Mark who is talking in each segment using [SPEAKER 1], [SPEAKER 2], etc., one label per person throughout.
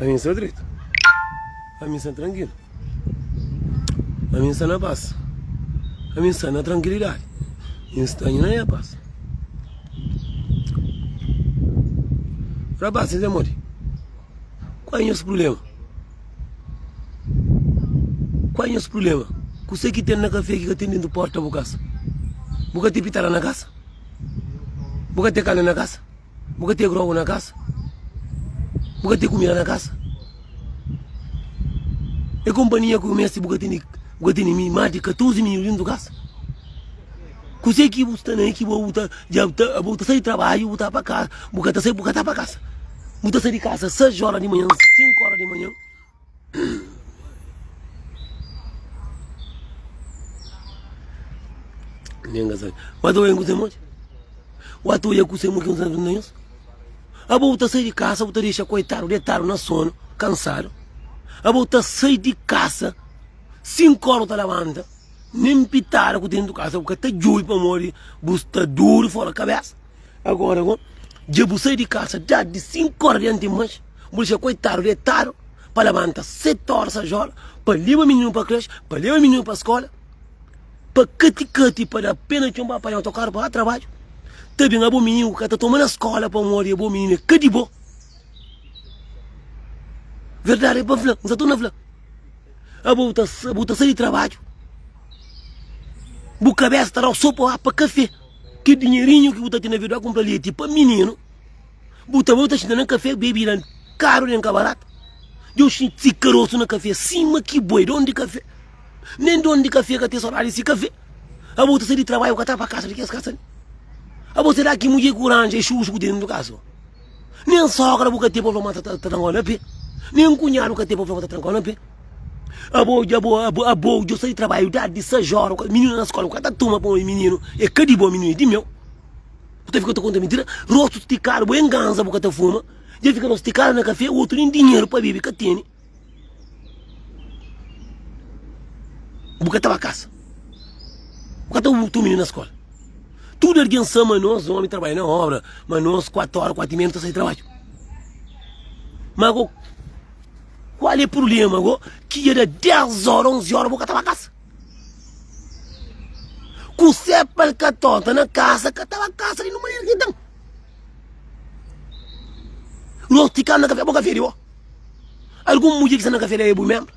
[SPEAKER 1] Ami sta dretu. Ami sta trankilu. Ami sta na pas. Ami sta na trankilidadi. N sta na nha pas. Rapaz, n ten modi. Qual é nhos problema? Qual é nhos problema? Kusé ki ten na kafé ki ka ten dentu porta bu kasa? Bu ka ten pitala na kasa? Bu ka ten kanda na kasa? Bu ka ten grogu na kasa? Bu ka ten kumida na kasa? E konpanhia ku bu meste bu ka tene bu ka tene mi más di 14 mininu dentu di kasa? Kuse ki bu sta na el ki bo bu ta dja ta abo ta sai di trabadju bu ta pa kasa bu ka ta sai bu ka ta pa kasa bu ta sai di kasa 6 óra di manhan 5 óra di manhan Nenga sa. Wa tu ku semu. Wa tu ya ku semu ki unsa na yus. Abu ta sai di casa, bu ta deixa coitado deitado na sono, cansado. Abu ta sai di casa, cinco horas ta levanta, nem pitada ku tem dentro casa, bu ka ta jubi pamodi bu sta duro fora cabeça. Agora go dja bu sai di casa dja di 5 horas diante di manhã bu dixá coitado deitado pa labanta 7 horas a jola pa leba menino pa creche pa leba menino pa escola pa cati cati pa da pena txon pa apanha autocarro pa ba trabalho ta bem abo menino ku ka ta toma na escola pamodi abo menino é ka di bo verdade é pa fla nsa torna fla abo bu ta sa bu ta sai di trabalho bu cabeça ta dau sopa pa café Ki dinherinhu ki bu ta tene vida kumpra leti pa mininu, bu ta bai ta xinta na kafé bebida karu nen ka baratu. Deu xinti si karosu na kafé sima ki boi donu di kafé. Nen donu di kafé ka ten sodadi di si kafé. Abo ta sai di tarbaiu ka ta pa kasa di kes kasa li. Abo será ki mudjer ki bu ranja é xuxu ku ten dentu di kasa? Nen sogra bu ka ten pa fla ma ta ta tra ngol na pe Nen kunhadu ka ten pa fla ma ta tra ngol na pe Abo dja bo abo abo djo sa di trabaiu dadi di sais ora ku mininu na skola bu ka ta tuma pa un omi mininu e ka di bo mininu e di meu Bu ta fika ta konta mintira rostu stikadu bo e nganza bu ka ta fuma dja fika rostu stikadu na kafé otu nen dinheru pa bebe ka tene. Bu ka ta ba kasa. Bu ka ta bu txeu mininu na skola. Tudu algen sa ma nos omi trabadja na obra, ma nos kuatu ora, kuatu y meiu nu ta sai di trabadju. Ma ago, kual e prublema ago ki dja da dés ora, onzi ora bu ka ta ba kasa? Kusé pa el ka tonta na kasa, ka ta ba kasa di nu manera ki el ten. Nos ti kanda kafé, bo kafé di bo. Algun mudjer ki sta na kafé la é bu ménbru?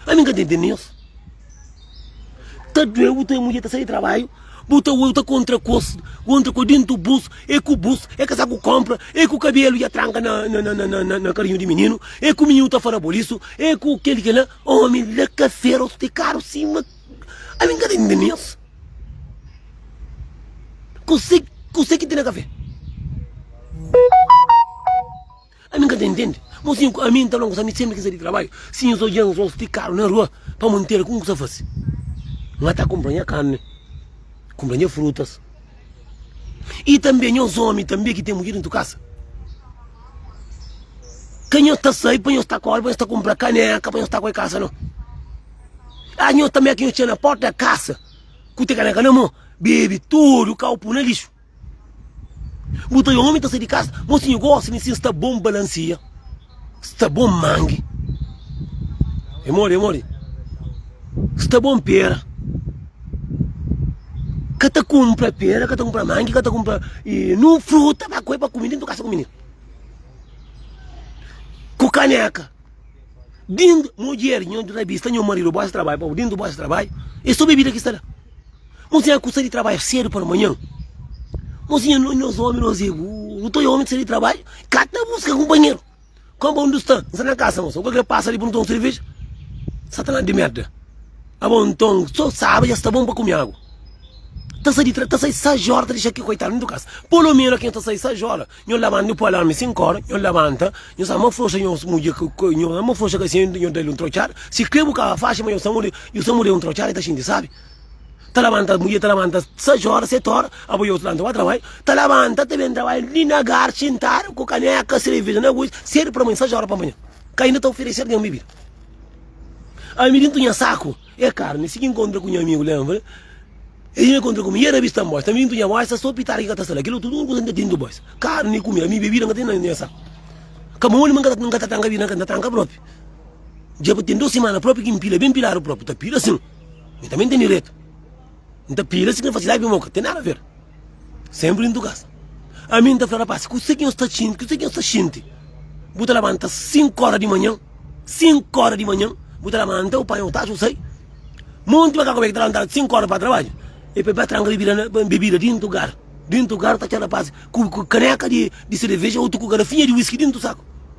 [SPEAKER 1] Ami n ka ta intende nhos. Ta dói bu ta wê mudjer ta sai di trabadju, bu ta wê ta kontra kos, kontra kos dentu bus, é ku bus, é kasaku konpra, é ku kabelu dja tranka na na na karinhu di mininu, é ku mininu ta fora bolisu, é ku kel i kel la. Ómi la kafé rostu é karu sima. Ami n ka ta intende nhos. Kuzê kuzê ki ten na kafé? Ami n ka ta intende. Mosinhu ku ami, n ta fla-m kusa, ami senpri ki sai di trabadju, si nhos odja nhos ti karu na rua, pa mantera ku n kusa fase? N ka ta kunpra nha karni, kunpra nha frutas. I tanbe nhos omi tanbe ki ten mudjer dentu kasa, ka nhos ta sai pa nhos ta kore, pa nhos ta kunpra kaneka pa nhos ta kore kasa no. Achi nhos tanbe ki nhos txiga na porta kasa ku te kaneka na mo, bebe tudu kopu na lixu. Bu ta omi ta sai di kasa Mosi nhu gosi mi sin Sta bon balansia Sta bon mangi E modi e modi Sta bon pera Ka ta kunpra pera ka ta kunpra mangi ka ta kunpra nu fruta pa koi pa kumi dentu kasa ku mininu Ku kaneka dintu mudjer nhu rabi sta nhu maridu bo sta ta bai pa bu dintu bo sta ta bai E so bebida ki sta la. Mozinha kusa di trabadju sedu pa manhan Mozinha no nhos omi nos e bu Nu ta oi omi ta sai di trabadju Ka ta buska kunpanheru Kamba un dus ta N sta na kasa moça Ku algen pasa li pa nu ta un serveja Satanás di merda Abo nton so sabe dja sta bon pa kume agu Ta sai di ta sai sais ora ta dexa ki koitadu na tu kasa Polo meno ki nhos ta sai sais ora Nhos labanta nu poi alarmi di sinku ora Nhos labanta Nhos ama froxa nhos mudje Nhos ama froxa ka si nhos da-l un trotxada Si kre bu ka faxi ma nhos ta mudje Nhos ta mudje un trotxada e ta xinti sabi. ta labanta mudjer ta labanta 6 óra 7 óra abo iau ta labanta ba trabai ta labanta ta ben trabai li na gar xintadu ku kaneka sereveja na gosi sedu pa manha 6 óra pa manha ka inda ta oferese algen bebida ami dintu nha saku é karni si ki inkontra ku nha amigu lenbra el dja inkontra ku mi yera bista anbosta ami dintu nha bosta so pitada ki ka ta sta la kila otu tudu kuza ki ta dintu bosta karni ku mi ami bebida ka ten na nha saku ka mon li ma n ka ta tranka bebida na ka n ta tranka propi dja ten 2 simana propi ki n pila ben piladu propi ta pila asin Mi tanbe N ten diretu. N ta pila si ki N fasidadi pa mi boka. Ten nada ver. Senpri dintu kas. Ami N ta fla rapasi, kuse ki N sta sinti, kuse ki N sta sinti? Bu ta labanta sinku ora di manhan, sinku ora di manhan, bu ta labanta, bu panha bu taxa, bu sai. Ma un timaka kube ki ta labantaba sinku ora pa tarbaju, e poi bai tranka bebida, bebida dintu gar. Dintu gar ta txor rapasi ku kaneka di sereveja, otu ku garafinha di wiski dintu saku.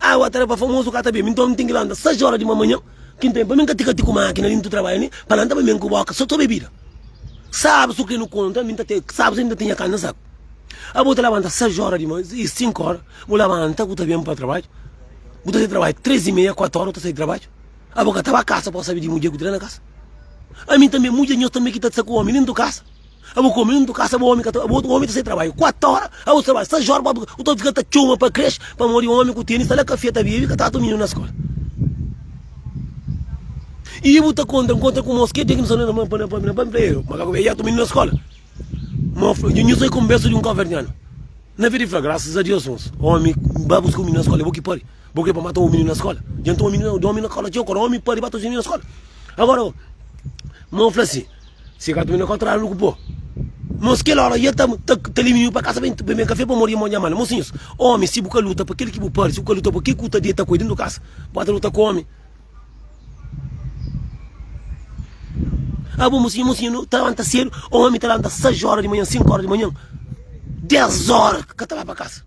[SPEAKER 1] Ai wa tarefa famozu ka ta ben mi nton mi ten ki lanta sais ora di manmanhan ki nten pa mi nka tika ti ku makina li ntu trabadja ni pa lanta pa mi nku boka so to bebida sabu su ke nu konta mi nta te sabu si mi nta te nha kanna sabu abo ta labanta sais ora di manhan i sinku ora bu labanta bu ta ben pa trabadju bu ta sai trabadju tres i meia kuatu ora bu ta sai trabadju abo ka ta ba kasa pa bo sabe di mudjer ku tra na kasa ami tanbe mudjer nhos tanbe ki ta sta ku omi li ntu kasa. Abo kome i un tu kasa abo omi ka ta abo omi ta sai trabadju kuatu ora abo ta trabadju sais ora pa bu ta fika ta txoma pa kres pamodi omi ku teni sta la kafia ta bebi ka trata mininu na skola i bu ta kontra nkontra ku mos ke dia ki no sta na pamplieru makaku be i jatu mininu na skola mo fla nho sai konbersa di un kaverdianu na vida i fla grasas a dios mos omi ba buska un mininu na skola i bo ki padi bo kre pa mata un mininu na skola djantu omi na skola txeu kore omi padi ba ta txoma mininu na skola agora mo fla si. Se ka ta mina kontra lu ku po. Mos kel ora ia ta ta liminiu pa kasa ben ben kafe pamor ia mo nha mala. Mosinhus, omi si bu ka luta pa kel ki bu parsi, bu ka luta pa kel ku ta deta ku el dentu kasa. Bo ta luta ku omi. Abo mosinhu mosinhu ta lanta sedu, omi ta lanta 6 ora di manhan, 5 ora di manhan, 10 ora ka ta ba pa kasa.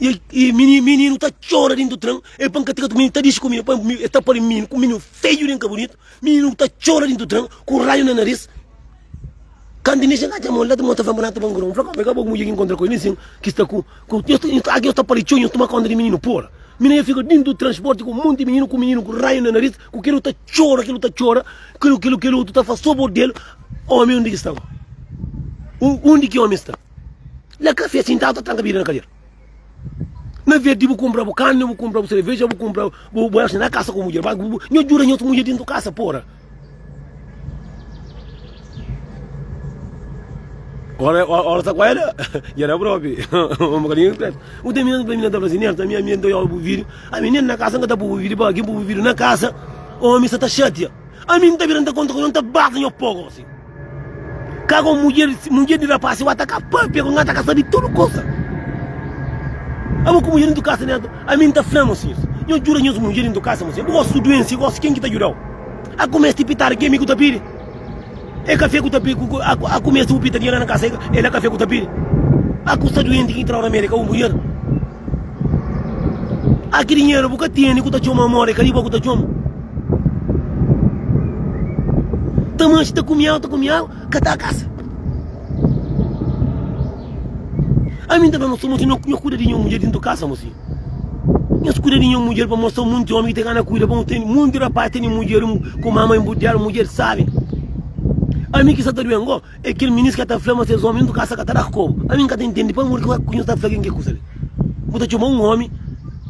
[SPEAKER 1] E e mini mininu ta txora dentru do tren e pa N ka tika tudu mininu ta dixi ku mi pa mi e ta pali mininu ku mininu feju den ka bunitu mininu ta txora dentru do tren ku raiu na naris kantu N dexa N atxa mon la ta mostra fla N ta ba ngrau N fla ka ka bo ku mudjer ki N nkontra ku el nen sin ki sta ku ku nhos ta nhos agi nhos ta pali txeu nhos tuma konta di mininu pora mininu fika dentru do transporti ku monti mininu ku mininu ku raiu na naris ku kel otu ta txora kel otu ta txora kel kel otu ta fla so bo del omi undi ki sta bo undi ki omi sta. Na kafé sintadu ta tranka bida na kadera Na verdi bu kunpra bu karni bu kunpra bu sereveja bu kunpra bu bu na kasa ku mudjer Nho djuda nhos mudjer dentu kasa pora Ora ora ta kuela dja da propi un bukadinhu diskreti Un dia minha minha ta fla si Nerta minha minha nta iobi bu vidio ami nen na kasa nka ta pui bu vidio pa kin pui bu vidio na kasa omi sa ta xatia ami nta bira nta konta ku nhos nta bata nhos poku osi. Ka ku mudjer, mudjer di rapaz si bu ataka pâpia ku ngata ka sabi tudu kusa. Abo ku mudjer intu kasa ne atu. Ami nta fla nos sinhus, nho djuda nhos mudjer intu kasa mo sinhus. Bu gosi su duensi, gosi ken ki ta djudau. A ku mesti pitadu ke mi ku ta pidi. E kafé ku ta pidi, a ku mesti bu pita dinheru la na kasa, e la kafé ku ta pidi. A ku sta duenti ki ta na Amerika, bu mudjer. Ah ki dinheru bu ka tene ku ta txoma amor e ka li bo ku ta txoma Ta manxe ta kumial ta kumial ka ta kasa Ami n ta fla nos ta manxe nos kuida di nos mudjer dintu kasa mos fidju Nos kuida di nos mudjer pa mostra monti omi ki ta gana kuida pa nos tene monti rapaz tene mudjer ku mama i budjal mudjer sabi Ami ki sa ta duel ngo. É kel minis ka ta fla ma ses omi nu kasa ka ta da kobu. Ami nka ta intendi pamodi ki ku nhos ta fla ken ke kusa li. Bu ta txoma un omi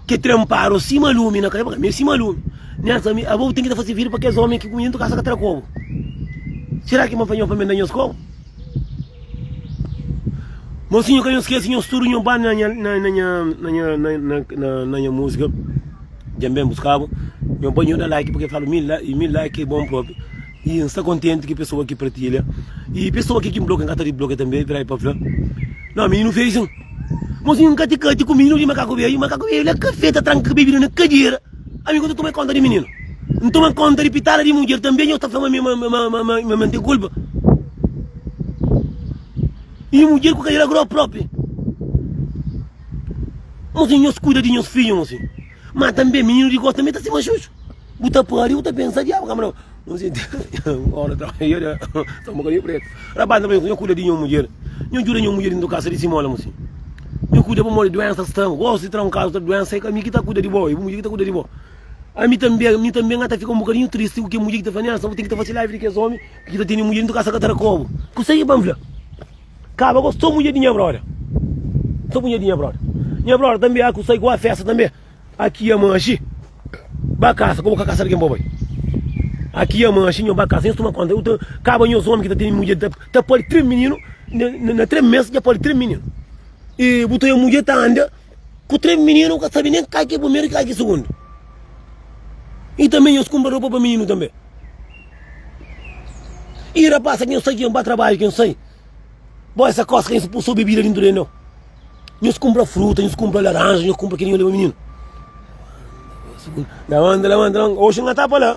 [SPEAKER 1] ke trenparu sima lumi na kaiba ka medu sima lumi. Nessa ami abo bu ten ki ta fase vidru pa kes omi ki ku minhas nu kasa ka ta da kobu. Sera ki ma fla nhos pa mi da nhos kobu? Mosinhu ka nhos skese nhos tudu nho ba na nha na na nha na nha na na na na nha musika djamben buskabu nho ba nho da like pake flalu mi like mi like bon propi. E N sta kontenti ki pesoa ki partilha i pesoa ki ki N blokia N ka ta diblokia tanbe i peraí pa N fla No mininu feijun Mozinhu N ka ti kati ku mininu di makaku beiu Makaku beiu la kafé ta tranka bebida na kadera Ami ku ta toma konta di mininu N toma konta di pitala di mudjer tanbe Nho ta fla ma mi ma ma N ten kulpa I mudjer ku kadera gropi Mozinhu nhos kuida di nhos fidju mozinhu. Má tanbê, mininu di Gó tanbê ta stima Xuxu. Bu ta pâdi, bu ta pensa, Diabu ka manda-m. Un dia, óras ta bai, nha stômagu ta preta. Rapaz ta fla mi, Nhô kuida di nho mudjer. Nho djuda nho mudjer inda kasa di si móla. Mô-si nho kuida pamodi duénsa ta tra-m. Gó si tra-m kaza ta duénsa, é ka mi ki ta kuida di bo, é bu mudjer ki ta kuida di bo. Ami tanbê, ami tanbê nha ta fika un bukadinhu tristi ku kel mudjer ki ta fla, Nénsa, bu ten ki ta fase live di kes ómi ki ta tene mudjer inda kasa ka tra-kobu. Kuzê ki ba-m fla? Kaba gosi so mudjer di nha brother. So mudjer di nha brother. Nha brother tanbe aku sai ku a festa tanbe. Aki ama axi ba kasa ku bo ka kasa algin bo bai. Aki ama axi nho ba kasa nhos tuma konta. Uta kaba nhos omi ki ta tene mudjer ta ta pali tres mininu na tres mes ja pali tres mininu. E bu ta oe mudjer ta anda. Ku três mininu nu ka sabe nem kal ki é primeru e kal ki é sugundu. E tanbê nhos kunpra ropa pa mininu tanbê. E rapasa ki nhos sai ki nhos ba trabadju ki nhos sai bo é sa kosa ka nhos ta pui so bebida dintu di nau. Nhos kunpra fruta, nhos kunpra laranja, nhos kunpra kila nhos leba mininu. Lamanta, lamanta, lamanta, oxi n'ka ta pa la.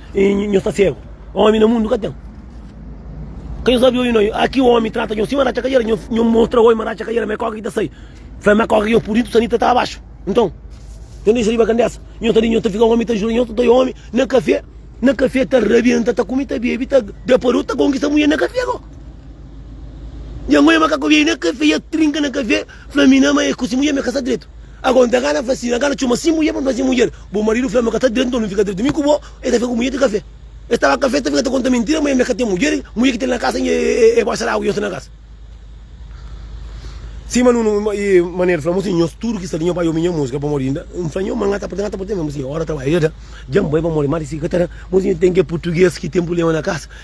[SPEAKER 1] Nhos ta ségu. Ómi na mundu ka ten. Ka nhos abi oi noi. Aki ómi trata nhos sima ratxa kajera. Nhos mostra oi ma ratxa kajera, ma é kóka ki ta sai. Fla-m ma é kóka ki nhos purdidu, sanita ta abaxu. Nton, nhos dexa riba kandesa. Nhos ta di, nhos ta fika ómi, ta jura nhos ta ta oi ómi na kafé. Na kafé ta rabienta, ta kume, ta bebe, ta da pa reu, ta konkista mudjer na kafé ko. Dja ngoi ma ka kobiai na kafé, dja trinka na kafé. Fla mi na ama el ku si mudjer mi ka sta dretu ago nta gana fla si na gana txoma si mudjer pa mi fla si mudjer bu maridu fla mi ka sta dretu nton mi fika dretu mi ku bo el ta fika ku mudjer di kafé el staba kafé el ta fika ta konta mintira ma el mi ka ten mudjer mudjer ki ten na kasa nje el ba sal agu nje sta na kasa si ma nunu i manel fla mu si nho tudu ki sta li nho bai obi nje musika pamodi nda nfla nho ma nka ta porta nka ta porta mi fla mu si ora trabalha dja ta dja nbai pamodi ma di si ka ta da mu si nho ten ke purtuges ki ten prublema na kasa.